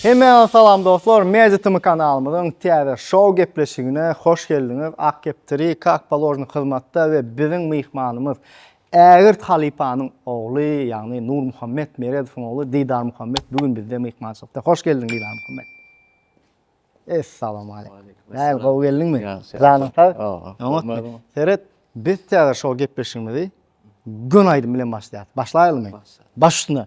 Hemmäňize salam dostlar, Media Tm kanalymyzyň täze şow gepleşigine hoş geldiňiz. Ak kepderi, kak položny hyzmatda we biziň myhmanymyz Ägirt halypanyň ogly, ýagny Nurmuhammet Meredowyň ogly Didar Muhammet bu gün bizde myhmançylykda. Hoş geldiň Didar Muhammet. Essalamualeýkum. Näme gowy geldiňmi? Janyň sag. Oňatmy? Seret, biz täze şo gepleşigimizi göni aýdym bilen başlaýarys. Başlaýalymy? Baş üstüne.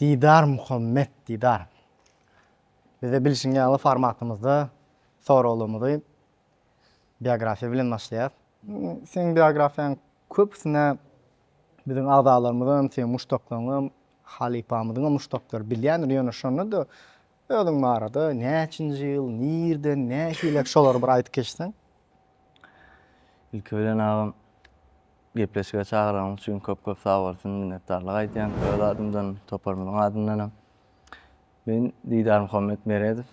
Didar Muhammet Didar. Bize bilşiň ýaly formatymyzda soraglymyzy biografiýa bilen başlaýar. Seň biografiýaň köpüsine biziň agzalarymyzam, seň muşdaklaryňam, halypamyzyňam muşdaklary bilýändir, ýöne şonda-da Özüň barada näçinji ýyl, nirden, nähilek şolary bir aýdyp geçseň? Ilki bilen agam gepleşige çagyranyň üçin köp köp sag bolsun minnetdarlyk aýdýan öz adymdan toparymyzyň adyndanam. Men Didar Muhammet Meredow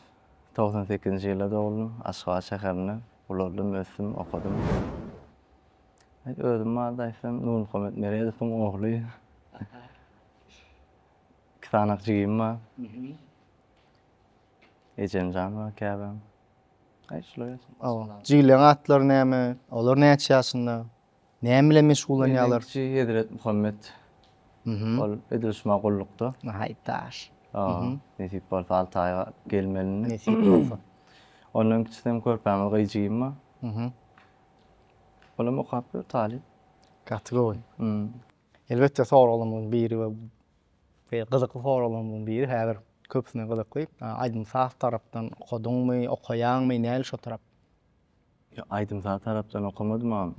togsan sekizinji ýylda doguldym Aşgabat şäherinde ulaldim ösdüm okadym. Özüm barada aýtsam Nurmuhammet Meredowyň ogly. Iki sanak jigim bar. Ejem jan bar käbäm. Aý şular ýaşaýan. Oba. Jigileň atlary näme? Olar näçe ýaşynda? Näme bilen meşgullanýarlar? Menden kiçi Hezret Muhammet. Mhm. Ol edil şu ma gullukda. Nahaýyt daş. Oba. Nesip bolsa alty aý galyp gelmeli indi. Nesip bolsa. Ondan kiçisi hem körpämiz gyz jigim bar. Mhm. Olam okap ýör, talyp. Gaty gowy. Mhm. Elbetde soraglarymyň biri we we gyzykly soraglarymyň biri häzir köpüsine gyzykly. Aýdym-saz tarapdan okadyňmy, okaýaňmy, näl şo tarap? Ýok, aýdym-saz tarapdan okamadym agam.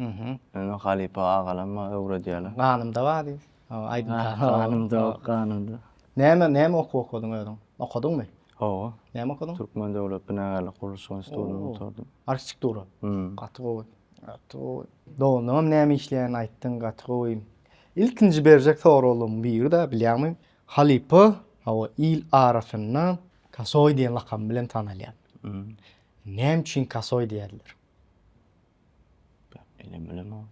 Meni halypa agalam maňa öwredýärler. Ganymda bar diýip, aýdym-saz. Ganymda, ganymda. Näme, näme okuw okadyň özüň? Okadyňmy? Hawa. Näme okadyň? Türkmen döwlet binagärlik gurluşyk institutyny gutardym. Arhitektura? Hum. Gaty gowy. Gaty gowy. Doganlaňam näme işleýänini aýtdyň, gaty gowy. Ilkinji berjek soraglaryň biri-de, bilýäňmi, halypa, hawa, il arasynda Kasoý diýen lakam bilen tanalýar. Näme üçin Kasoý diýýärler? Bilmem, bilemok.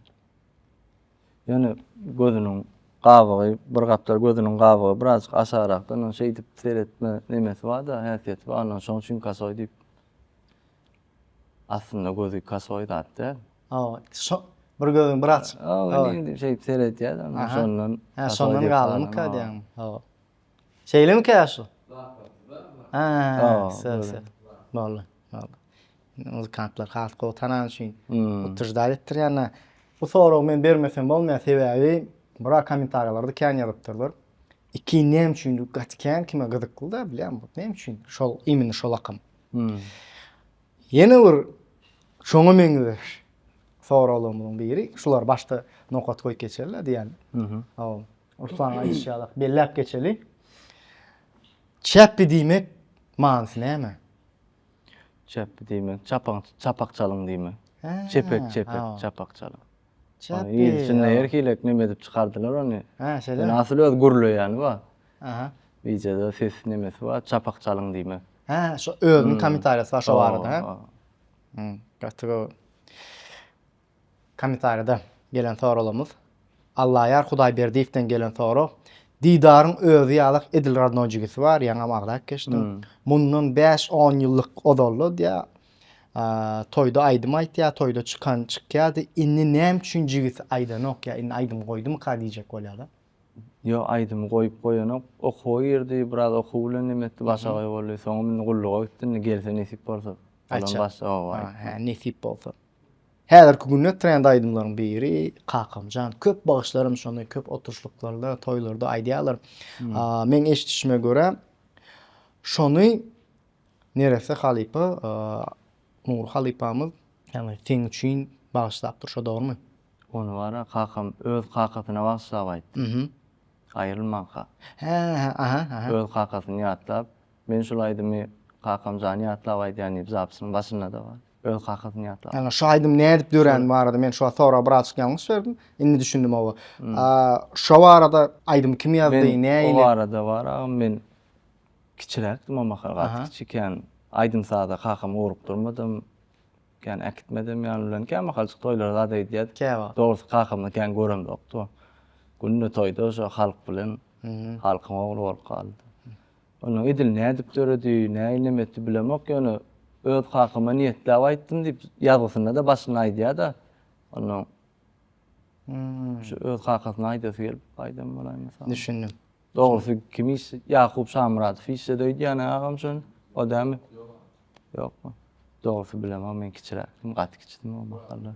Ýöne gözüniň gabygy, bir gapdal gözüniň gabygy birazjyk aşagrakda, ondan şeýdip seretme nemesi bar-da, häsiýeti bar, ondan şoň üçin kasoý diýip. Aslynda gözi kasoý zat däl. Hawa, şo bir gözüň birazjyk. Hawa, indi şeýdip seredýär-de, ondan şondan. Hä, şondan galdymyka diýýäňmi? Hawa. Şeyle mi kaşu? Aa, söz söz. Boldu, boldu. Muzikantlar has gowy tanan üçin utujda etdir yani. Bu soragy men bermesem bolmaýar, sebäbi bura kommentariýalarda kän ýazypdyrlar. Iki näme üçin gaty kän kime gyzykly da bilýän bu näme üçin şol imенно şol akym. Ýene bir şoňa meňzeş soraglarymyň biri, şular başda nokat goýup geçerler diýen. Ol Ursaň aýdyşýalak, belläp geçeli. Çäpli diýmek manysy näme? Çäpli diýmek, çapaň, çapak çalyň diýmek. Hä, Çepek, çepek, ha. çapak çalyň. Ony Çäpli. il içinde her hili ekmem edip çykardylar ony. Hä, Ýöne şeýle. asyl öz gürleýäni bar. Aha. Bijede ses nemesi bar, çapak çalyň diýmek. Hä, şo özüniň kommentariýasy bar şo barada, hä? Hä, gaty gowy. Kommentariýada gelen soraglarymyz. Allaýar Hudaýberdiýewden gelen sorag. Didaryň özi ýalak edil rodnoý jigisi bar, ýaňam agzap geçdim. Mundan bäş on ýyllyk ozalda diýýär, toýda aýdym aýtýar, toýda çykan çykýardy, indi näme üçin jigisi aýdanok ýa indi aýdym goýdumyka diýjek bolýarlar. Ýok aýdymy goýup goýanok. Okuwa girdi, biraz okuw bilen neme etdi, başagaý boldy. Soňam indi gulluga gitdi, indi gelse nesip bolsa. Aýtjak. Olam başda oba aýtdy. Hä, nesip bolsa. Häzirki günde trend aýdymlaryň biri Kakamjan. Köp bagşylarym şony köp oturyşlyklarda, toýlarda aýdýarlar. Meň eşidişime görä, şony neresse halypa, Nury halypamyz ýaňy seň üçin bagyşlapdyr, şo dogrumy? Ony bar-a, kakam öz kakasyna bagyşlap aýtdy. Aýrylmanka. Hä, aha, aha. Öz kakasyny ýatlap, Men şul aýdymy Kakamjany ýatlap aýdýan diýip, zapysynyň başynda-da bar. Öz kakasyny ýatlap. Ýagny şu aýdym nädip döräni barada men şu soraga birazjyk ýalňyş berdim. Indi düşündim oba. Şo barada aýdymy kim ýazdy, nähili? O barada bar agam men kiçiräkdim o mahal gaty kiçi kän aýdym saza kakamy ugrukdyrmadym. Kän äkitmedim ýan bilen. Kän mahaljyk toýlara zat eýdýärdik. Dogrusy kakamy kän göremzokdy. Günde toýda şo halk bilen halkyň ogly bolup galdy. Ony edil nädip döredi, näinleme etdi bilemok, ýöne öz kakama niýetläp aýtdym diýip, ýazgysynda-da başynda aýdýar-da. Onnoň şu öz kakasyna aýdasy gelip aýdan bolaýmasa. Düşündim. Dogrusy kim iş, Ýakup Şamyradow işledi öýdýän-ä agam şony, o dälmi? Ýokmy? Dogrusy bilemok, men kiçiräkdim, gaty kiçidim o mahallar.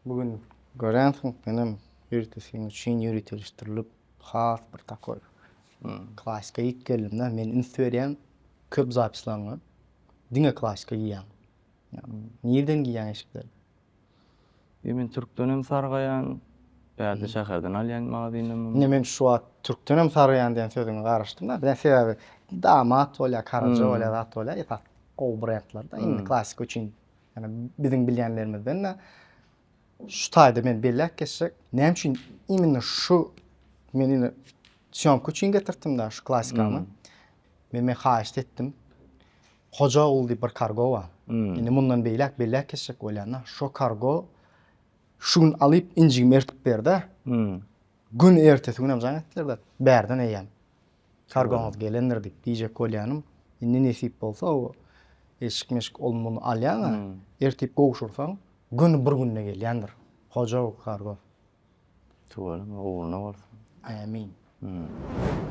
Bu gün göränsiň, menem ýörite seň üçin ýöriteleşdirilip, has bir takoý klasika iýip geldim-de. Men üns berýän köp zapislaryňa diňe klasika giýýäň. Nireden giýýäň eşikleri? Ýe, men türkden hem sargaýan, bärde şäherden alýan magazyndam. Ine, men şu wagt türkden hem sargaýan diýen sözüňe garaşdym-da. Birden sebäbi damat bolýar, karaja bolýar, zat bolýar, esasy gowy brendlerde. Indi klasika üçin Ýani biziň bilýänlerimizden-de şu taýda men belläp geçjek. Näme üçin imенно şu men indi syýomka üçin getirtdim-de şu klassikany. Hmm. Men men haýyşt etdim. Hoja ogul diýip bir kargo bar. Hmm. Indi mundan beýläk belläp geçjek bolýan-da. Şu kargo şu gün alyp injigimi ertip berdi. Hmm. Gün ertesi günem jaň etdiler-de bärden eýýäm. Sargymyz gelendir diýip diýjek bolýanym. Indi nesip bolsa o eşik-meşik ol-muny alýaň-a, ertip gowşursaň, göni bir günde gelýändir. Hojaw sargym. Tüweleme, ugruna bolsun. Ämin.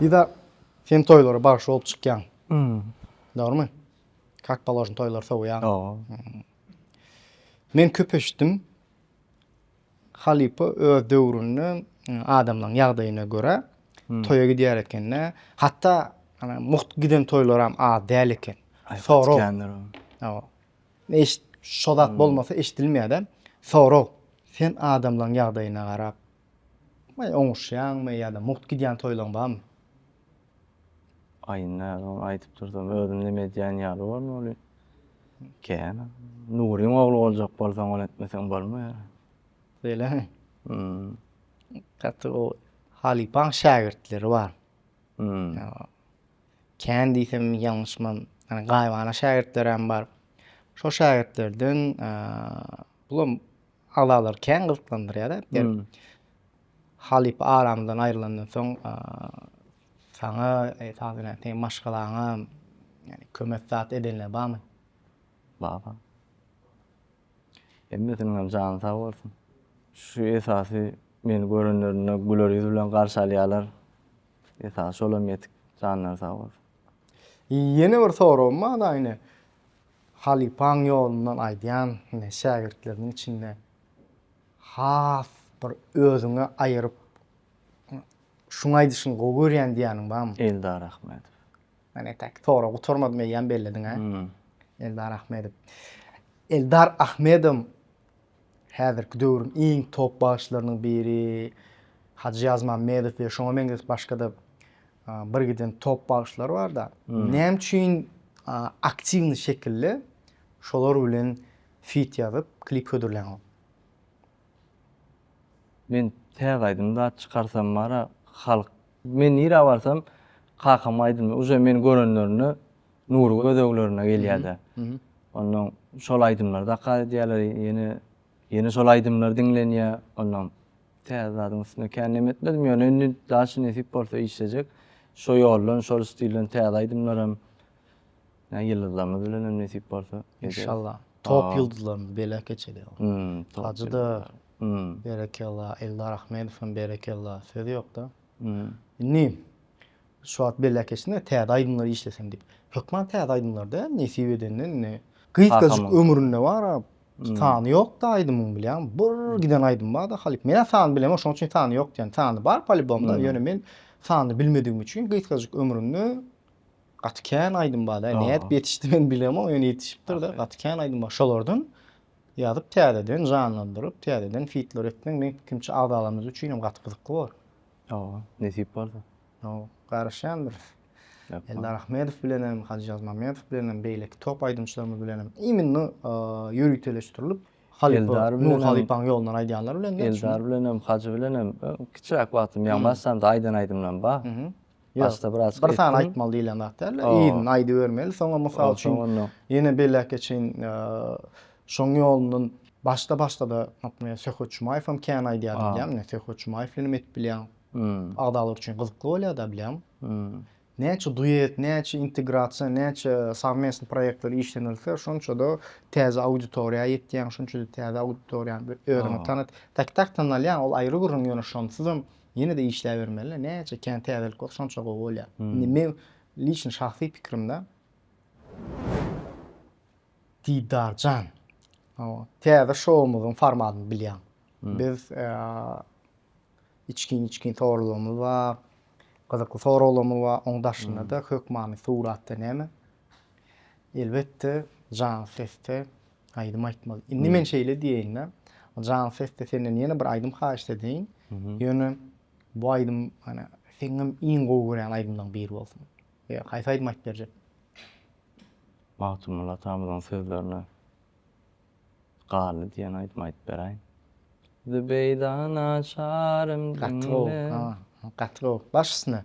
Diýda, sen toýlara bagşy bolup çykýaň. Dogrymy? Kak položno toýlary sowýaň. Men köp eşitdim. Halypa öz döwründe adamlaryň ýagdaýyna görä toýa gidýär eken-de, hatda mugt giden toýlaram az däl eken. Sorag. Hawa. Eşit, şo zat bolmasa eşidilmeýär-de. Sorag. Sen adamlaryň ýagdaýyna garap oňuşýaňmy ýa-da mugt gidýän toýlaryň barmy? Aýyny näzogyn aýdyp dursam, özüm neme edýän ýaly boldum ol. Kän. Nuryň ogly boljak bolsaň, ony etmeseň bolmaýar. Beýlemi? Hmm. Gaty o halypaň şägirtleri bar. Hmm. Kän diýsem ýalňyşman, ýani gaýybana şägirtleräm bar. Şol şägirtlerden bulam Agzalary kän gyzyklandyrýar äpder. Halypa aramyzdan aýrylandan soň saňa esas bilen seň maşgalaňa ýani kömek zat edenler barmy? Bar bar. Hemmesiniňem jany sag bolsun. Şu esasy meni görenlerinde güler ýüz bilen garşy alýarlar. Esasy şolam ýetik. Janlary sag bolsun. Ýene bir soragym bar-da ine. Halypaň ýolundan aýdýan ine şägirtleriniň içinde has bir özüňe aýyryp şuň aýdyşyny gowy görýän diýýäniň barmy? Eldar Ahmedow. Men etäki soragy gutarmadym eýýäm bellediň-ä. Eldar Ahmedow. Eldar Ahmedow Häzirki döwrüň iň top bagşylarynyň biri Hajy Ýazmammedow we şoňa meňzeş başga-da birgiden top bagşylar bar-da. Näme üçin aktiwnyý şekilde şolar bilen fit ýazyp, klip hödürlänok? Men täze aýdym zat çykarsam bar-a, halk Men nirä barsam kakam aýdymda uje meni görenlerinde nury gözeglerine gelýärdi. Ondan şol aýdymlary dakar edýärler ýene ýene şol aýdymlar diňlenýär. Ondan täze zadyň üstüne kän neme etmedim ýöne indi daşy nesip bolsa işlejek. Şo ýoldan şol stilden täze aýdymlar hem ýyldyzlarymyz bilen hem nesip bolsa. Inşallah. Top ýyldyzlarymyz belek geçeli. Hajy da Berekella Eldar Ahmedowem berekella söz ýokda. Indi şu wagt belläp geçdiňiz täze aýdymlary işlesem diýip. Hökman täze aýdymlarda nesip edende indi gysgajyk ömründe bara sany ýokda aýdymyň bilýäň bir giden aýdym barda halyp. Menä sany bilemok şonuň üçin sany ýok diýen. Sany bar polibomda ýöne men sany bilmedigim üçin gysgajyk ömründe gaty kän aýdym barda nädip ýetişdi men bilemok ýöne ýetişipdirde gaty kän aýdym bar şolardan Ýazyp täzeden janlandyryp täzeden fitler etseň meň pikimçe agzalarymyz üçin hem gaty gyzykly bolar. Hawa, nesip bolsa. Hawa, garaşýandyrys. Eldar Ahmedow bilenem, Hajyýaz Mamedow bilenem, beýleki top aýdymçylarymyz bilenem imminno ýöriteleşdirilip, halypa Nur halypaň ýolundan aýdýanlar bilen. Eldar bilenem, Hajy bilenem kiçiräk wagtym, ýagny başlandy aýdan aýdymlarym bar. Başda biraz etdim. Bir sany aýtmaly diýlen zat däl. Yzyny aýdybermeli. Soňa mysal üçin ýene beläke çyn şoň ýolundan başda başda-da naprimýer Söhbet Jumaýew hem kän aýdýar bilýän. Men Söhbet Jumaýew bilen hem edip bilýän. Agzalar üçin gyzykly bolýar-da bilýän. Näçe duet, näçe integrasiýa, näçe sowmestnyý proýektler işlenilse, şonça-da täze auditoriýa ýetýäň, şonça-da täze auditoriýa özüňi tanat. Taktak tanalýaň, ol aýry gürrüň, ýöne şonsuzam Ýene-de işläbermeli. Näçe kän täzelik bolsa şonça gowy bolýar. Indi meň liçno şahsy pikirimde Didarjan, täze şoumyzyň formatyny bilýäň. Biz içgin-içgin soraglarymyz bar, gyzykly soraglarymyz bar. Onuň daşynda-da hökmany suratda näme? Elbetde, janly sesde. Aýdym aýtmaly. Indi men şeýle diýeýin-de, jan sesde senden ýene bir aýdym haýyşt edeýin. Ýöne bu aýdym ýöne seňňem iň gowy görýän aýdymlaryň biri bolsun. Ýa haýsy aýdym aýdyp berjek? Magtymguly atamyzyň sözlerine Garly diýen aýdymy aýdyp beräýin. Zübeýda naçarym diňle. Gaty gowy. Gaty gowy. Baş üstüne.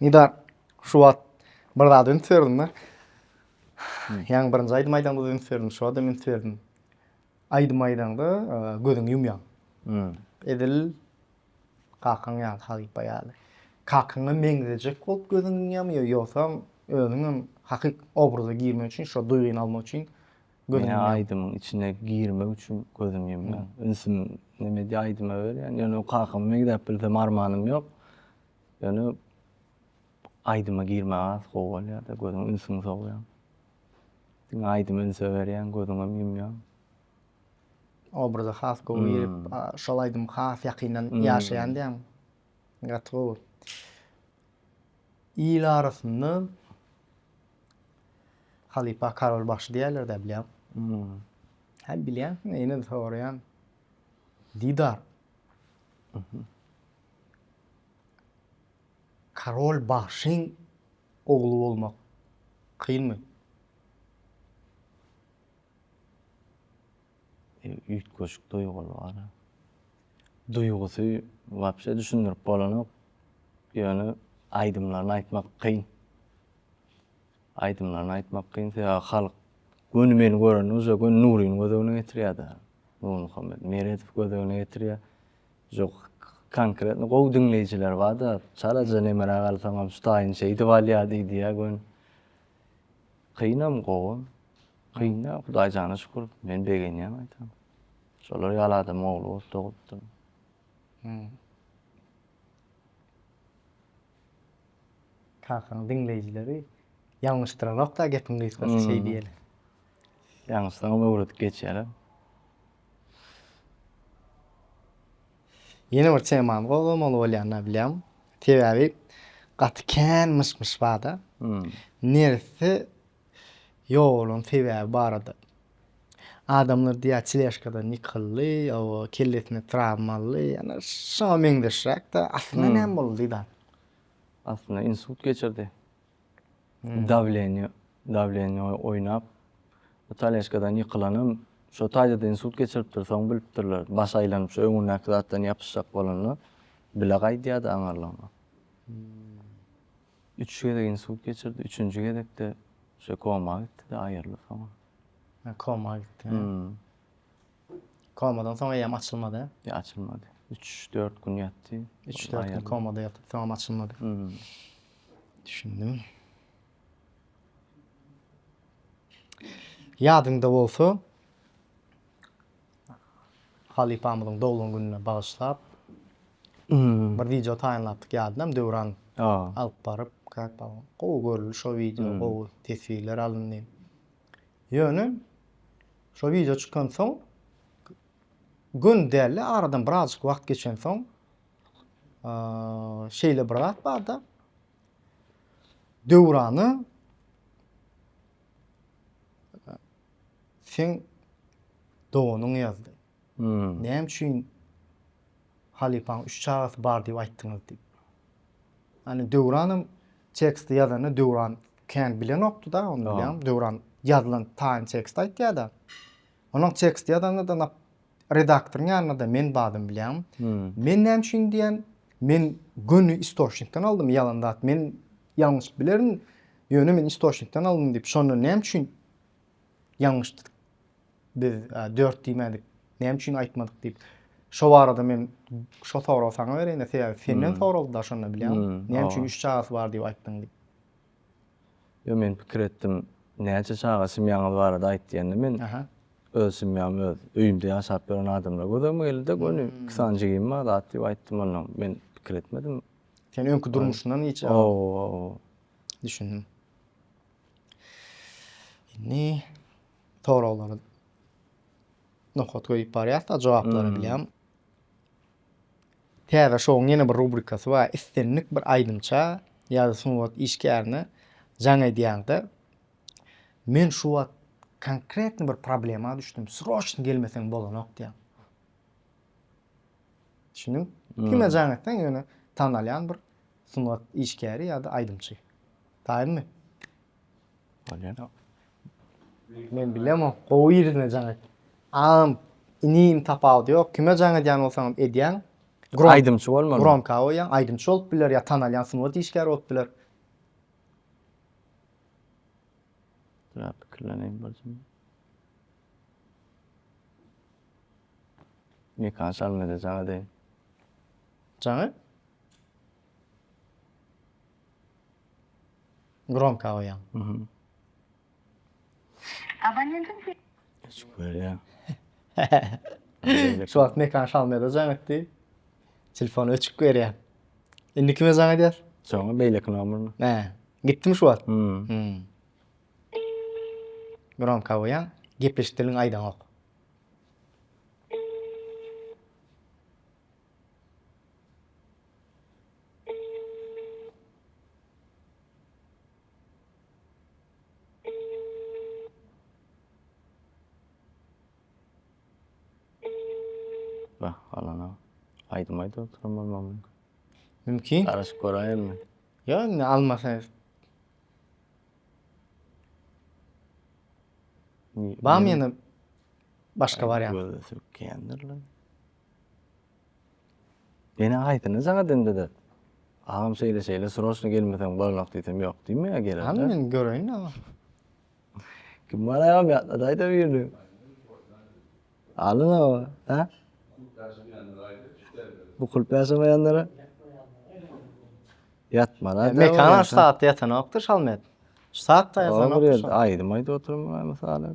Nida şu wagt bir zat üns berdim da. Ýaňy birinji aýdym aýdaňda üns berdim, şu adam üns berdim. Aýdym aýdaňda gözüňi ýumýaň. Edil kakaň ýaly, halypa ýaly. Kakaňa meňzejek bolup gözüňi ýumýamy ýa ýogsam özüňem hakyky obraza girmek üçin, şo duýgyny almak üçin göz ýumýan. Men aýdymyň içine girmek üçin gözüm ýumýan. Ünsüm neme diýýär aýdyma berýän. Ýöne kakam bilen gidäp bilsem armanym ýok. Ýöne aýdyma girmäge has gowy bolýar-da, gözüň ünsüňi sowýaň. Diňe aýdyma ünse berýäň, gözüňem ýumýaň. Obraza has gowy girip, şol aýdymy has ýakyndan ýaşaýan diýýäňmi? Gaty gowy. Il arasynda halypa karol bagşy diýerler de bilýän. Hmm. Ha bilýänsiň, ýene de soraýan. Didar. Mhm. Karol bagşyň ogly bolmak kynmy? üýtgeşik duýgy bar. Duýgusy wapşe düşündirip bolanok. Ýöne aýdymlaryny aýtmak kyn. Aýdymlaryny aýtmak kyn, sebäbi halk göni meni görende uja göni Nuryny göz öňüne getirýär-de. Nurmuhammet Meredow göz öňüne getirýär. Uja konkretno gowy diňleýjiler bar-da, çalaja nemere galsaňam şu taýyn şeýdip alýar diýýär göni. Kynam gowy. Kyn däl, Hudaý jana şükür. Men begenýän gaýtam. Şolar ýaly adamyň ogly bolup dogulypdym. Kakaň diňleýjileri ýalňyşdyranok-da gepiň gysgasy şeý diýeli. Ýalňyşsaňam öwredip geçýärler. Ýene bir temany gozgamaly bolýanyna bilýän. Sebäbi gaty kän myş-myş barda. Neresse ýogalan sebäbi barada. Adamlar diýýär teležkadan ýykyldy, ýa-o kellesine trawma aldy, ýa-da şoňa meňzeşräk-de. Aslynda näme boldy da? Aslynda insult geçirdi. Dawleniýe, dawleniýe oýnap, Italiýaçkadan ýykylanam şo taýda-da insult geçiripdir, soň bilipdirler. Baş aýlanyp, şo öňündäki zatdan ýapyşjak bolanda, bile gaýdýardy aňarlygyna. Üç gezek insult geçirdi, üçünji gezek-de şo koma gitdi-de, aýyryldy soňra. Koma gitdi. Komadan soň eýýäm açylmady. Ýa açylmady. Üç, dört gün ýatdy. Üç, dört gün komada ýatyp, soňam açylmady. Düşündim. Ýadyňda bolsa, halypamyzyň doglan gününe bagyşlap, bir wideo taýynlapdyk, ýadynam, Döwran alyp baryp, gowy görüldi şo wideo, gowy teswirler alyndy. Ýöne şo wideo çykansoň gün dälde aradan birazjyk wagt geçensoň şeýle bir zat barda Döwrany sen doganyň ýazdy. Näme üçin halypaň üç çagasy bar diýip aýtdyňyz diýip. Ýani Döwranam teksti ýazanda Döwran kän bilenokdy-da, ony bilýän. Döwran ýazylan taýyn teksti aýtýar-da. Onuň teksti ýazanda-da nap redaktoryň ýanynda-da men bardym bilýän. Men näme üçin diýen, men göni istoçnikden aldym ýalan zat. Men ýalňyşyp bilerin, ýöne men istoçnikden aldym diýip, şonda näme üçin ýalňyşdyk biz dört diýmädik, näme üçin aýtmadyk diýip. Şo barada men şo soragy saňa bereýin-de, sebäbi senden soraldy-da şonda bilýäňmi? Näme üçin üç çagasy bar diýip aýtdyň diýip. Ýok, men pikir etdim, näçe çaga semýaňyz barada aýt diýende men öz semýamy öz öýümde ýaşap ýören adamlar gözegime geldi-de, göni iki sany jigim bar zat diýip aýtdym, onda men pikir etmedim. Sen öňki durmuşyňdan hiç. Hawa. Düşündim. Indi soraglary nokat goýup barýas-da, jogaplary bilýän. Täze şouň ýene bir rubrikasy bar. Islendik bir aýdymça ýa-da sungat işgärine jaň edýäňde, Men şu wagt konkretny bir problema düşdüm, sroçno gelmeseň bolanok diýýär. Düşündiňmi? Kime jaň etseň, ýöne tanalýan bir sungat işgäri ýa-da aýdymçy. Taýynmy? Bolýar. Men bilemok, gowy ýerine jaň et. Agam, inim tapawudy ýok. Kime jaň edýän bolsaňam edýäň. Aýdymçy bolmaly. Gromka goýýaň, aýdymçy bolup biler ýa tanalýan sungat işgäri bolup biler. Biraz pikirleneýin bir zum. Mekan şalmede jaň edeýin. Jaň et. Gromka goýaň. Mhm. Abonentiň se- Geçip görýär. Şu wagt Mekan Şalmeda jaň etdi. Telefon öçük berýär. Indi kime jaň edýär? Soňra beýleki nomerine. Hä. Gitdimi şu wagt? Mhm. Hmm. Gromka goýaň. Gepleşik dilini aýdaňok. Bah, alana. Aýdym aýdyp oturan bolmam mümkin. Mümkin. Garaşyp göräýelmi? Ýa indi almasa. Bam ýene başga wariant. Gözde sürükleýändir lan. Ene aýtdyny saňa dindede. Agam şeýle şeýle sroçno gelmeseň bolnok diýsem ýok diýme ýa gelende. Hany men göreýin agam. Kim bar agam ýatladaýda birini. Alyn agam. Ha? Bu kulp ýaşamaýanlara. Ýatmara. Mekan aç saat ýatanokdy şalmet. Şu saat da ýatanokdy. Aýdym aýdyp oturmaly mysal.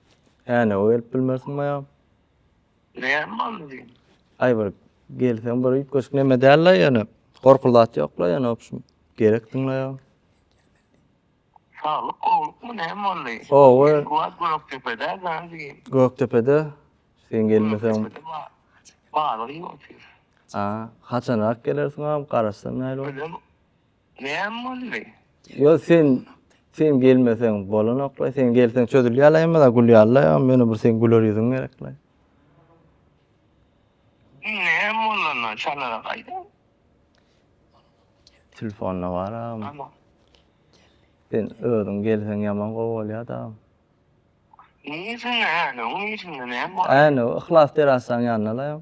Änewe gelip bilmersiň maýa. Näme boldy? Aý bir gelseň bir üýtgeşik neme däl-le ýöne. Gorkuly zat ýok-la ýöne obşim. Gerekdiň-le ýa. Saglyk gowlukmy näme boldy? Owe. Bu wagt Gökdepede gandigi. Gökdepede sen gelmeseň. Gökdepede ba- balyk iýip otyr. A, haçanrak gelersiň agam, garaşsam näl bol. Özem Näme boldy? Ýok sen sen gelmeseň bolanokla sen gelseň çözülýärle ýa gülýärle ýa ýöne bir seň güler ýüzüň gerekle. Näme bolanda çalara gaýdyň? Telefonda bar agam. Sen özüň gelseň ýaman gowy bolýada. Niresinden äne, o niresinden näme bolýar? Äne, Yhlas terasanyň ýanynda-la.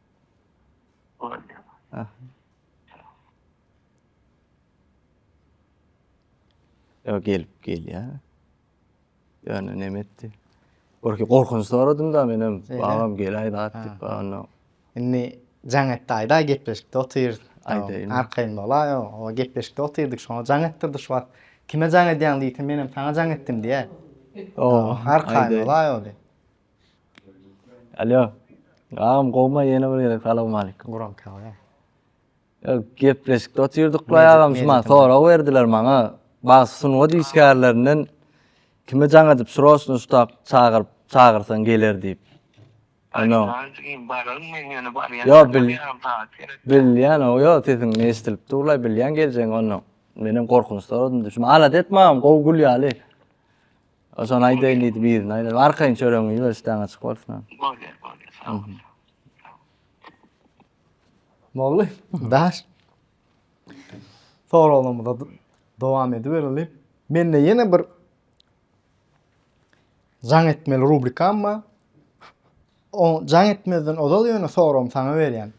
Ýa gelip gelýär. Ýöne näme etdi? Gorky gorkunç soradym-da men hem, agam geläý zat diýip, onda. Indi jaň etdi aýda gepleşikde otyr. Aýdaýyn. Arkaýyn bolaý, o gepleşikde otyrdyk, şoňa jaň etdirdi şu wagt. Kime jaň edýäň diýse, men hem saňa jaň etdim diýer. Arkaýyn bolaý ol. Alýo. Agam gowma ýene bir gezek salawmaleýkim. Guram kaba ya. Ýok, gepleşikde otyrdyk baý agam şuman sorag berdiler maňa. Bag sungat işgärlerinden kimi jaň edip sroçno şutak çagyryp çagyrsaň geler diýip. Ýa bil. Bilýän o ýa sesiň eşdilip durlaý bilýän geljegin ondan. Menem gorkunçda oldum düşme. Alat etme agam gowy gül ýaly. Ozan aýdaýyn diýdi birini aýdaýyn. Arkaýyn çöregiňi ýüber üstäňe açyk bolsun. Bolýar, bolýar. Sag bol. Bolly. Daş. Soraglarymyza dowam edibereli. Mende ýene bir jaň etmeli rubrikam bar. O jaň etmezden ozal ýöne soragymy saňa berýän.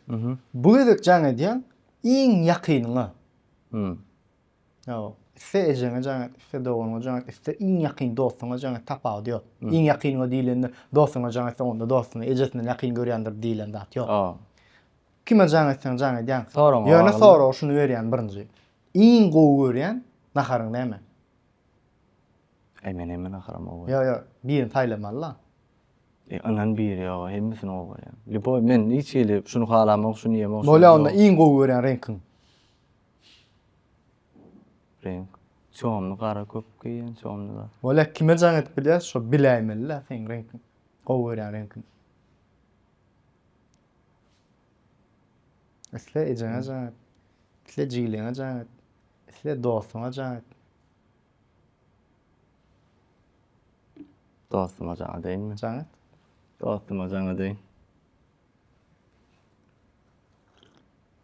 Bu gezek jaň edýän iň ýakynyňa. Hmm. Ýok. Iste ejeňe jaň et, iste doganyňa jaň et, iste iň ýakyn dostuňa jaň et, tapawudy ýok. Iň ýakynyňa diýlende, dostuňa jaň etseň, onda dostuny ejesinden ýakyn görýändir diýlen zat ýok. Kime jaň etseň jaň edýäň. Ýöne soragy şuny berýän birinji. Iň gowy görýän naharyň näme? Eý men hemme naharam gowy görýän. Ýok ýok, birini saýlamaly-la. Eý ynan biri ýok, hemmesini gowy görýän. Lýuboý men hiç hili şuny halamok, şuny iýemok. Bolýa onda iň gowy görýän reňkiň? Reňk. Çomly gara köp geýýän çomly zat. Wala kime jaň edip bilýär şo biläýmelidä seň reňkiň gowy görýän reňkiň. Isle ejeňe jaň et. Isle jigileňe jaň et. Isle dostuňa jaň et. Dostuma jaň edeýinmi? Jaň et. Dostuma jaň edeýin.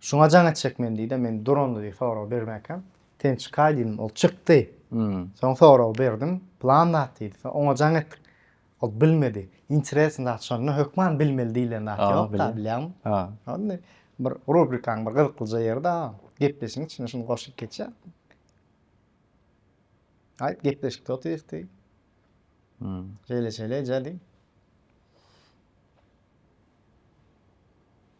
Şuňa jaň etjek men diýdi, men duranda diýdi sorag bermäkäm. Sen çykaý diýdim, ol çykdy. Soň sorag berdim, plan zat diýdi. Soň oňa jaň etdik. Ol bilmedi. Interesn zat şonda hökman bilmeli diýilen zat ýok-da, bilýäňmi? Ol indi bir rubrikaň bir gyzyklyja ýeri-de, gepleşigiň içine şuny goşup geçýär. Aýt, gepleşikde otyrys diý. Şeýle-şeýle eje diý.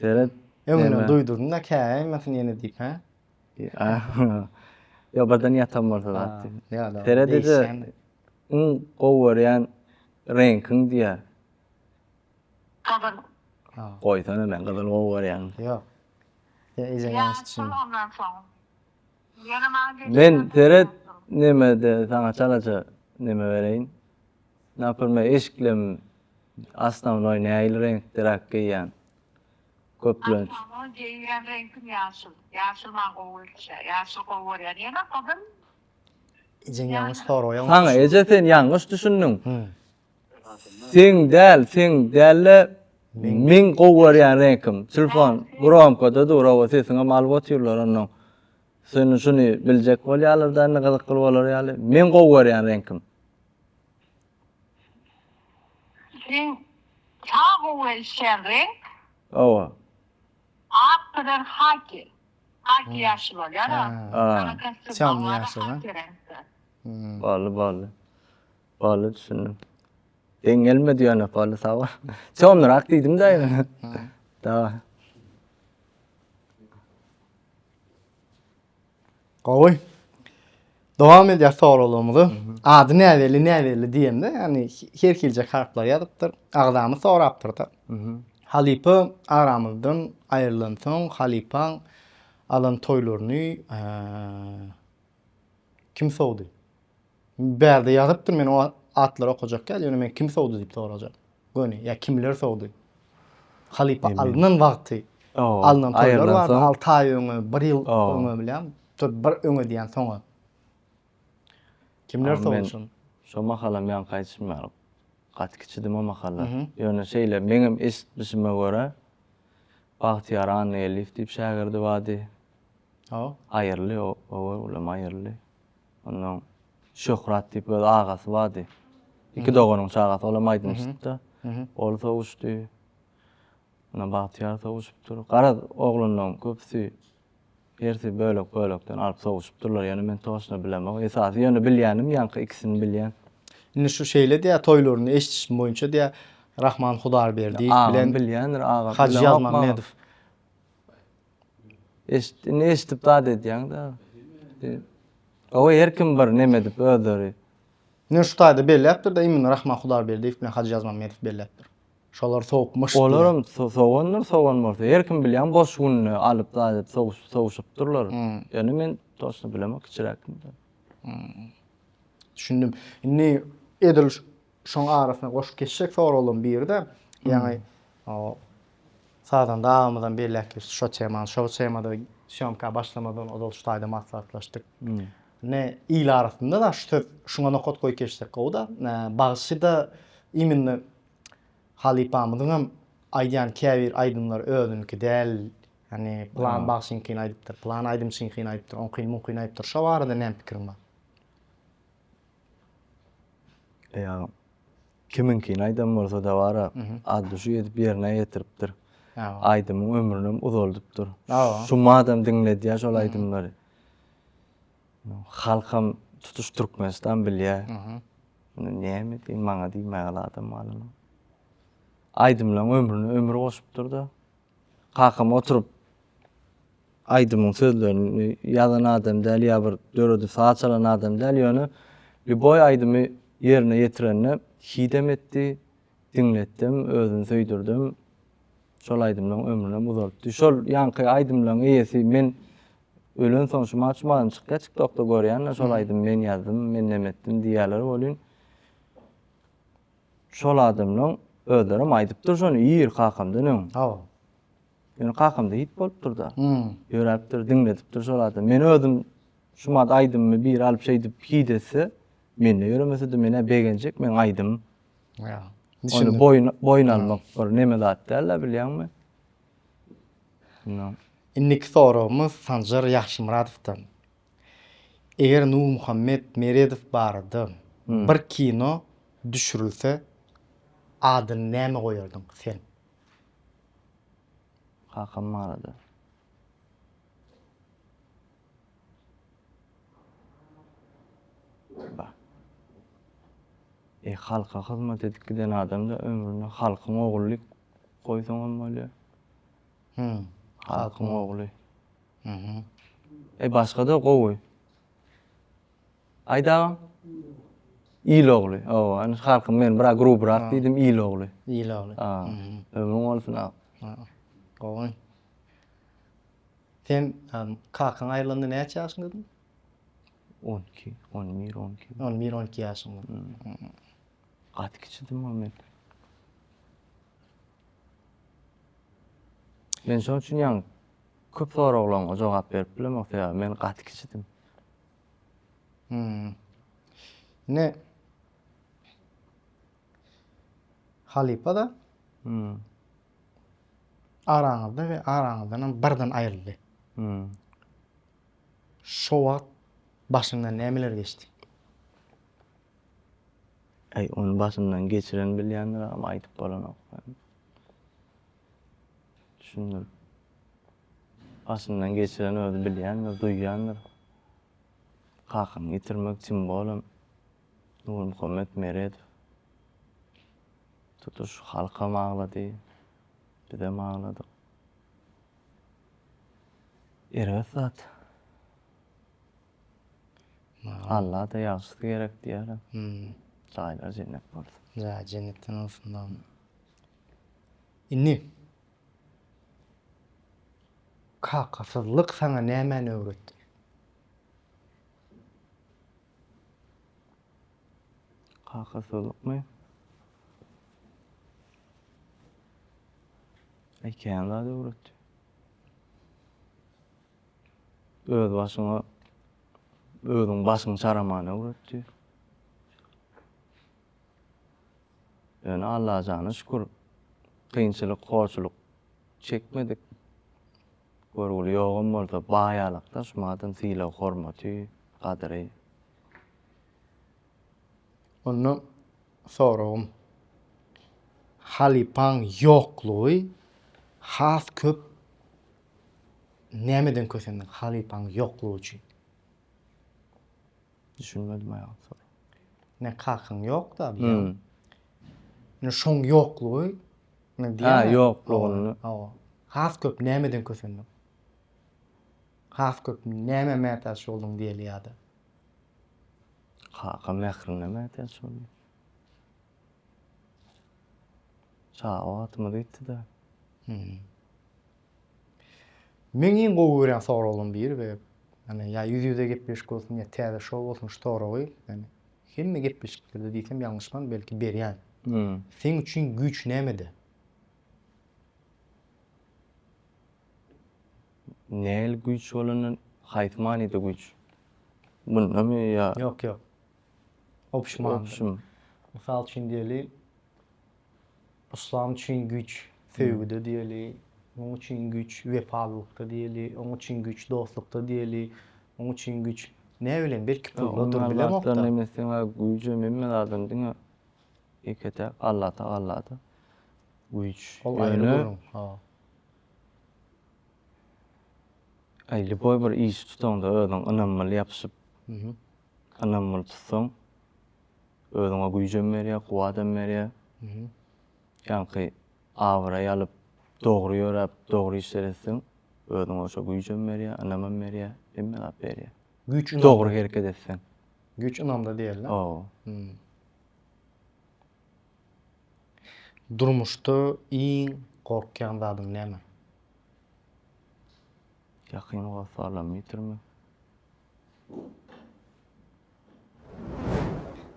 Seret. Öňünden duýdurdum-da, käýmesin ýene diýip, hä? Ýok, birden ýatan bolsa zat diýdim. Seret ede, iň gowy görýän reňkiň diýýär. Gyzyl. Goýsana, men gyzyly gowy görýän. Ýok. Sen ejeňi ýalňyş düşündiň. Ýa, şol ondan soň. Men seret nemede saňa çalaja neme bereýin. Napyrme eşiklem asnawnoý näil reňkdiräk geýýän. Köplenç. Asnawnoý geýýän reňkim ýaşyl. Ýaşyl maňa gowy gelişýä. Ýaşyl gowy görýän. Ýene gyzym. Ejeň ýalňyş soraýa. Saňa eje sen ýalňyş düşündiň. Seň däl seň dälle meň gowy görýän reňkim telefon gromkada dur oba sesiňem alyp otyrlar onnoň seni şuny biljek bolýarlarda indi gyzykly bolar ýaly meň gowy görýän reňkim Seň ta gowy gelişýän reňk oba ak bilen haki haki ýaşyl bolýar a Çam ýaşyl bolly bolly. Bally düşündim. Deň gelme diýen yok bally sağ ol. Çonrak diýdim de. Dawa. Gowy. Dowam edýär soraglarymyzy. Ady näbelli näbelli diýende, ýani her hilje harplar ýazypdyr. Agzamy sorapdyr da. Halypa aramyzdan aýrylansoň halypaň alan toýlaryny Kim sowdy? Bärde ýazypdyr men o atlary okajak ýaly, ýöne men kim sowdy diýip sorajak. Göni, ýa kimler sowdy? Halypa alnan wagty alnan toýlar bar, alty aý öňe, bir ýyl öňe bilýän, bir öňe diýen soňa. Kimler sowdy şony? Şo mahalam ýaňky aýdyşym ýaly gaty kiçidim o mahallar. Ýöne şeýle meňem eşitmişime görä Bagtyýar Annageldiýew diýip şägirdi bardy. Hawa. Aýyryldy oba ulam aýyryldy. Ondan Şöhrat diýip öz agasy bardy. Iki doganyň çagasy olam aýdymçyda. Ol sowuşdy. Ondan Bagtyýar sowuşypdyr. Garaz oglanlaryň köpüsi hersi bölek bölekden alyp sowuşypdyrlar. Ýöne men toşna bilemok. Esasy ýöne bilýänim ýaňky ikisini bilýän. Indi şu şeýle diýýär toýlarynda eşdişim boýunça diýýär Rahman Hudarberdiýew bilen Agam bilýändir agam. Hajy Ýazmammedow. Eşit, indi eşitip zat edýäň-de. Gowy, her kim bir neme edip özleri. Ine şu taýda belläpdir-de, Emin Rahman Hudaýberdiýew bilen Hajy Ýazmammedow belläpdir. Şolar sowup myş diýýär. Olaram sowandyr, sowan bolsa. Her kim bilýän boş gününi alyp zat edip sowuş, sowuşypdyrlar. Ýöne men toçna bilemok, kiçiräkdim-de. Düşündim. Indi edil Şoň arasyna goşup geçjek soraglaryň biri-de, ýaňy Sazanda agamyzam belläp geçdi şo temany. Şo temada sýomka başlamazdan ozal şu taýda maslahatlaşdyk. Ine, il arasynda-da şu söz, şuňa nokat goýup geçsek gowy-da. Bagşy-da imенно halypamyzyňam aýdýan käbir aýdymlary özüniňki däl. Ýagny pylan bagşyňkyny aýdypdyr, pylan aýdymçyňkyny aýdypdyr, oňkyny-muňkyny aýdypdyr. Şo barada näme pikiriň bar? Eýýam kimiňkini aýdan bolsa-da bar-a, atdüşi edip ýerine ýetiripdir. Aýdymyň ömrünem uzaldypdyr. Şum adam diňledýär şol aýdymlary. Halkam, tutuş Türkmenistan bilýär. Indi näme diýeýin, maňa diýmäge-le adam galmady. Aýdymlaryň ömrüne ömür goşupdyr-da. Kakam oturyp aýdymyň sözlerini ýazan adam däl ýa bir döredip saza çalan adam däl ýöne Lýuboý aýdymy ýerine ýetirende hidem etdi, diňletdim, özüni söýdürdim. Şol aýdymlaň ömrünem uzaltdy. Şol ýaňky aýdymlaň eýesi men ölensoň şu maçmadan çykýa tiktokda görýänler şol aýdymy men ýazdym, men nemetdim diýýäler welin Şol adamlaň özlerem aýdypdyr şony ýyr kakamdan öň. Hawa. Ýöne kakamda hit bolupdyr-da. Hmm. Ýöräpdir, diňledipdir şol adam. Men özüm şu mad aýdymymy biri alyp şeýdip hit etse, mende ýöremese-de menä begenjek, men aýdym. Ýa. Ony boýun boýun almak bir neme zat däl-de bilýäňmi? Indi. Indiki soragymyz Sanjar Ýagşymyradowdan. Eger Nurmuhammet Meredow barada bir kino düşürilse adyny näme goýardyň sen? Kakam barada. E halka hyzmat edip giden adam da ömrüne halkyň ogullyk goýsaňam bolýar. Hum. Halkyň ogly. Hum. Eý başgada gowy. Aýt agam. Il ogly. Hawa, indi halkym men biraz grubrak diýdim il ogly. Il ogly. A. Ömrüň bolsun agam. Hum. Gowy. Sen kakaň aýrylanda näçe ýaşyňdadyň? On iki, on bir, on iki. On bir, on iki ýaşyňda. Gaty kiçidim ol men. Men şoň üçin ýaňy köp soraglaryňa jogap berip bilemok, sebäbi men gaty kiçidim. Hmm. Ine halypa-da Hmm. araňyzda we araňyzdan hem birden aýryldy. Hmm. Şo wagt başyňdan nämeler geçdi? Äý ony başyndan geçiren bilýändir agam aýdyp bolanok sen düşündir başyndan geçiren özi bilýändir duýýandyr kakaňy ýitirmek çyn bolan Nurmuhammet Meredow tutuş halkam aglady bizem agladyk erbet zat Allada ýagşysy gerek diýýärler. Jaýlary jennet bolsun. Jaýy jennetden bolsun bagny. Indi Kakasyzlyk saňa nämäni öwretdi? Kakasyzlykmy? Ekän zady öwretdi. Öz başyňa özüň başyňy çaraman öwretdi. Ýöne Allajana şükür kynçylyk, horçulyk çekmedik. Görgüli ýogam bolsa baýalykda şumadam sylag hormaty, gadyry. Onda soragym, halypaň ýoklugy has köp Nämeden kösendiň halypaň ýoklugy üçin? Düşünmedim aýal soragy. Ne kakyň ýok-da diýýän. Ne şoň ýoklugy ne diýýän. Ha, ýoklugyny. Hawa. Has köp nämeden kösendiň? Has köp nämä mätäç bolduň diýeli ýa-da? Kaka mährine mätäç boldum. Çaga wagtymyz ýitdi-de. Meň iň gowy görýän soraglaryň biri we ýani ýa ýüz-ýüze gepleşik bolsun, ýa täze şou bolsun şu soragy ýani hemme gepleşiklerde diýsem ýalňyşman belki berýän. Seň üçin güýç nämede? Nähili güýç bolanda, haýsy manyda güýç? Mundamy ýa? Ýok, ýok. Obşim manyda. Obşim. Mysal üçin diýeli, Yslam üçin güýç söýgüde diýeli, muň üçin güýç wepalylykda diýeli, oň üçin güýç dostlukda diýeli, muň üçin güýç näbilen belki puldadyr bilemokda. Ondan emesiňa güýjem hemme zadyň diňe ýeke-täk Alla Tagalada güýç. Ol aýry gürrüň. Ha. Aý, lýuboý bir işi tutaňda özüň ynamly ýapyşyp Ynamly tutsaň, özüňe güýjem berýär, kuwadam berýär. Ýaňky abraý alyp, dogry ýöräp, dogry işleri etseň, özüňe şo güýjem berýär, ynamam berýär, hemme zat berýär. Güýç ynamda. Dogry hereket etseň. Güýç ynamda diýerler. Hawa. Durmuşda iň gorkýan zadyň näme? Ýakyn hossarlamy ýitirmek.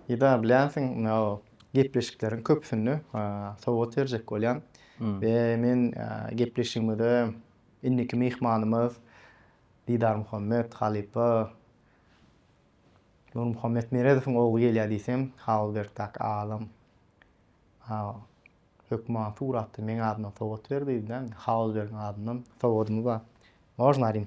Eda bilýänsiň, gepleşikleriň köpüsinde sowgat berjek bolýan we men gepleşigimize indiki myhmanymyz Didarmuhammet halypa Nurmuhammet Meredowyň ogly gelýär diýsem, Halbergdäki alym Hökman Sur atly meň adymdan sowgat ber diýdi-de, Halbergiň adyndan sowgadymy bar. Można aýdym?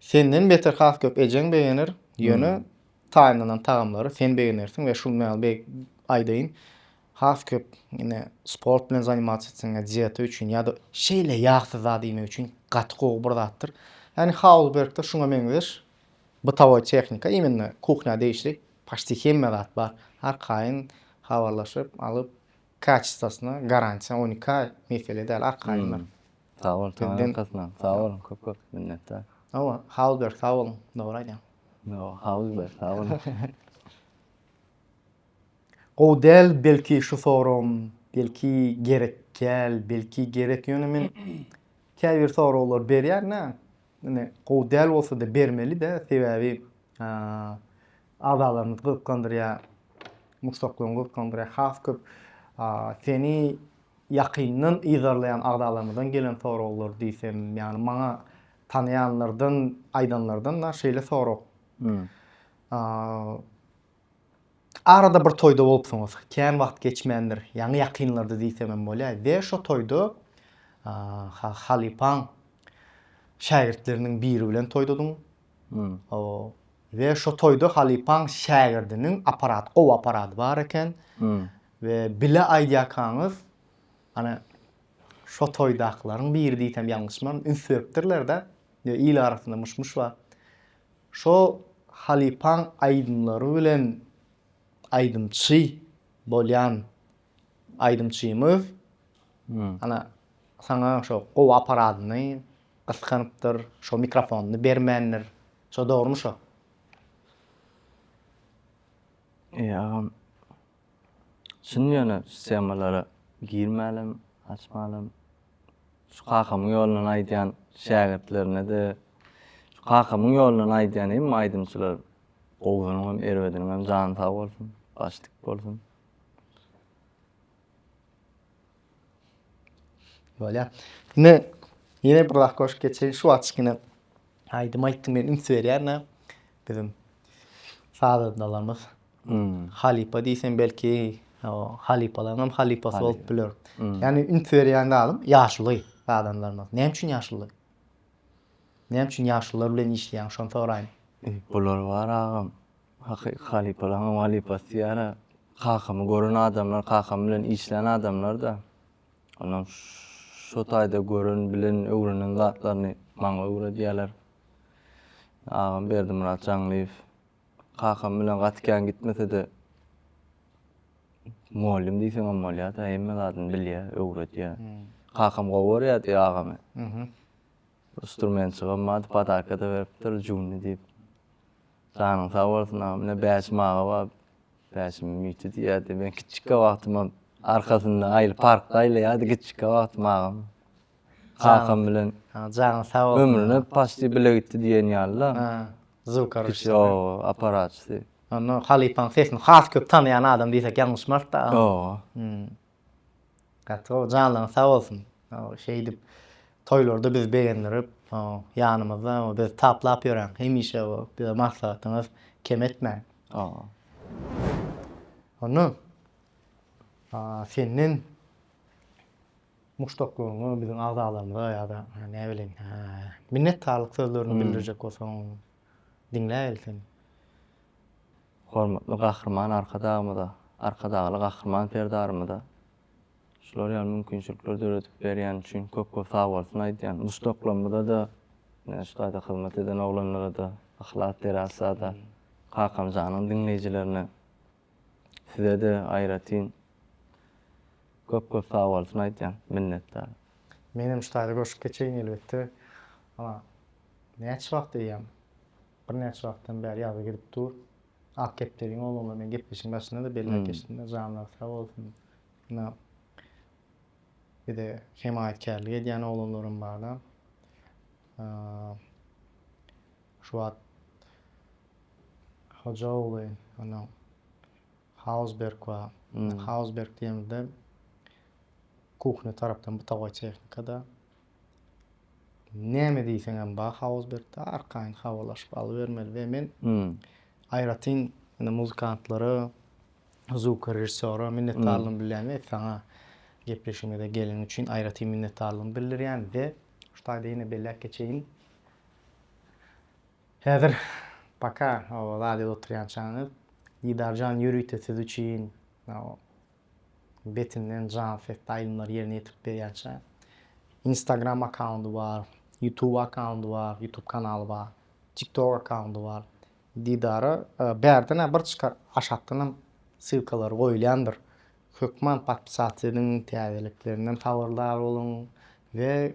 Senden beter has köp ejeň begener, ýöne taýynlanan tagamlary sen begenersiň we şul men bir aýdaýyn, has köp ine sport bilen zanimasiýa etseňä dieta üçin ýa-da şeýle ýagsyz zat iýmek üçin gaty gowy bir zatdyr. Ýani Haulbergde şuňa meňzeş bytowoý tehnika, imенно kuhnýa degişli paşti hemme zat bar. Arkaýyn habarlaşyp, alyp, Kaçistosyna garantiýa on iki aý mesele däl arkaýynlar. Sag bol taňryň arkasynda. Sag boluň köp köp minnetdar. Hawa Hausberg sag boluň dogry aýdýaň. Ýok Hausberg sag boluň. Gowy däl belki şu soragym belki gerek däl belki gerek ýöne men käbir soraglar berýän dä ine gowy däl bolsada bermeli dä sebäbi Agzalaryňyzy gyzyklandyrýar, muşdaklaryňy gyzyklandyrýar, has köp seni ýakyndan yzarlaýan agzalarymyzdan gelen soraglar diýsem, ýagny maňa tanaýanlardan aýdanlardan da şeýle sorag. Arada bir toýda bolupsyňyz, kän wagt geçmändir, ýaňy ýakynlarda diýsem hem bolýar we şo toýda halypaň şägirtleriniň biri bilen toýdadyň, We şo toýda halypaň şägirdiniň aparaty gowy aparady bar eken we bile aýdýakaňyz ana şo toýdakylaryň biri diýsem ýalňyşmaryn üns beripdirlerde we il arasynda myş myş bar şo halypaň aýdymlary bilen aýdymçy bolýan aýdymçymyz ana saňa şo gowy aparadyny Gyskanypdyr, şo mikrofonyny bermändir. Şo dogrymy şo? Eý agam. Çyn ýöne şu temalara girmälem, açmalem. Şu kakamyň ýolundan aýdýan şägirtlerine-de, şu kakamyň ýolundan aýdýan hemme aýdymçylar gowusynyňam, erbediniňem jany sag bolsun, baş dik bolsun. Bolýar. Ine, ýene bir zat goşup geçeýin. Şu wagt kiçkine aýdym aýtdym men üns berýän-ä. Biziň sazandalarymyz hmm. halypa diýsem belki halypalaryň hem halypasy bolup biler. Hmm. Ýagny üns berýän zadym ýaşuly sazandalarymyz. Näme üçin ýaşuly? Näme üçin ýaşulylar bilen işleýäň? Şony soraýyn. Bular bar agam. Hakyky halypalaryň halypasy diýara kakamy gören adamlar, kakam bilen işlän adamlar-da. Onuň şu taýda gören, bilen, öwrenen zatlaryny maňa öwredýärler. Agam Berdimyrat Jaňlyýew kakam bilen gaty kän gitmese-de mugallym diýseňem bolýar-da, hemme zadyny bilýär, öwredýär. Kakam gowy görýärdi agamy. Instrumentçigem bardy, podaka-da beripdir, Junny diýip. Janyň sag bolsun aga menä Bäşim aga bar Bäşimiň miti diýýärdi men kiçikkä wagtymam arkasynda aýly parkda aýlaýardy kiçikkä wagtym agam kakam bilen Janyň sag bolsun ömrüne paçti bile gitdi diýen ýaly da Zukoroçda ýoga aparaçysy. Onda halypaň sesini has köp tanaýan adam diýsek ýalňyşmarys da agam. Ýoga. Gaty gowy janlaryň sag bolsun. Şeýdip toýlarda bizi begendirip ýanymyzda bizi taplap ýöräň hemişe bize maslahatyňyz kem etmäň. Hany senden muşdaklaryňa biziň agzalarymyza ýa-da näbileýin minnetdarlyk sözlerini bildirjek bolsaň diňläýeli seni. Hormatly Gahryman Arkadagymyza, Arkadagly Gahryman Serdarymyza şular ýaly mümkinçilikleri döredip berýäni üçin köp-köp sagbolsun aýdýan. Muş toplamyza-da, ine, şu taýda hyzmat eden oglanlara-da, Yhlas Terasa-da, Kakamjanyň diňleýjilerine, size-de aýratyn köp-köp sagbolsun aýdýan. Minnetdar. Menem şu taýda goşup geçeýin elbetde. Ana, näçe wagt eýýäm Birnäçe wagtdan bäri ýazgy gidip dur. Ak kepderiň ogluňla men gepleşigiň başynda-da belläp geçdim-de, janlary sag bolsun. Ýa bize hemaýatkärlik edýän oglanlaram bar-da. Şu wagt hoja ogly, ýa-da Hausberg bar. Hausberg diýemizde kuhňa tarapdan butaga tehnika-da. näme diýseňem bar Hausbergde, arkaýyn habarlaşyp alybermeli we men aýratyn indi muzykantlara, zwukorežissýora minnetdarlygymy bilýän we saňa gepleşigimize geleniň üçin aýratyn minnetdarlygymy bildirýän we şu taýda ýene belläp geçeýin. Häzir paka o radioda oturýançaňyz Didarjan ýörite siz üçin Betinden jan sesli aýdymlary ýerine ýetirip berýänçä. Instagram akkaundy bar, Youtube akkaundy bar, Youtube kanaly bar, TikTok akkaundy bar. Didara bärden-ä bir çykar, aşakdanam ssylkalary goýulýandyr. Hökman podpisat ediň, täzeliklerinden habardar boluň we.